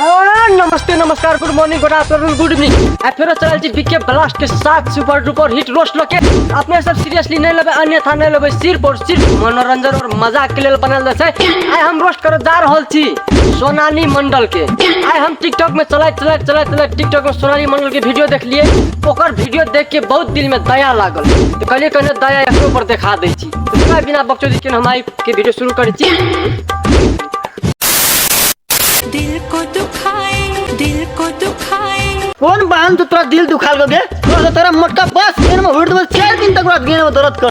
आ, नमस्ते नमस्कार good morning good afternoon good evening आ फेरो चलल छी बीके ब्लास्ट के साथ सुपर डुपर हिट रोस्ट लके अपने सब सीरियसली नहीं लेबे अन्यथा नहीं लेबे सिर्फ और सिर्फ मनोरंजन और मजाक के लेल बनल छै आइ हम रोस्ट करे जा रहल छी सोनाली मंडल के आइ हम टिकटॉक में चलैत चलैत चलैत चलैत टिकटॉक में सोनाली मंडल के वीडियो देखलिए ओकर वीडियो देख के बहुत दिल में दया लागल तो कहलिए कहने दया एकरो पर देखा दै छी तो चला बिना बकचोदी के हम आई के वीडियो शुरू करै छी दिल को दुखाए दिल को दुखाए कौन बहन तो तोरा दिल दुखा लोगे तोरा तो तेरा मोटका बस गेन में उड़ दबल चार दिन तक रात गेन में दर्द कर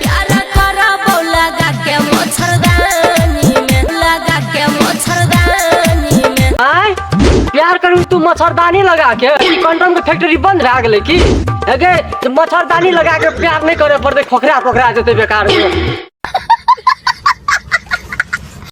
प्यारा करा बौ लगा के मच्छरदानी में लगा के मच्छरदानी में आय प्यार करू तू मच्छरदानी लगा के कंडम के फैक्ट्री बंद भए गेलै की अगे जे मच्छरदानी लगा के प्यार नहि करे पड़तै खोखरा खोखरा जेतै बेकार में।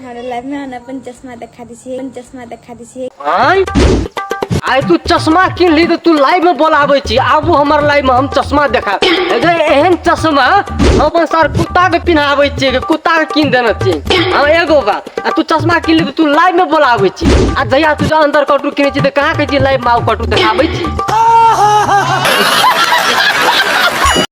हमरा लाइफ में हम अपन चश्मा दिखा दी छी अपन चश्मा दिखा दी छी आय आय तू चश्मा किन ली तो तू लाइव में बोलाबे छी आबू हमर लाइव में हम चश्मा देखा अरे एहन चश्मा हम अपन सर कुत्ता के पिन्हाबे छी के कुत्ता के किन देने छी हम एगो बात आ तू चश्मा किन ली तो तू लाइव में बोलाबे छी आ जहिया तू जो अंदर कटू किने छी तो कहाँ के छी लाइव में आउ कटू देखाबे छी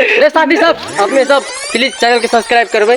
रे साथी सब अपने सब प्लीज चैनल के सब्सक्राइब करबै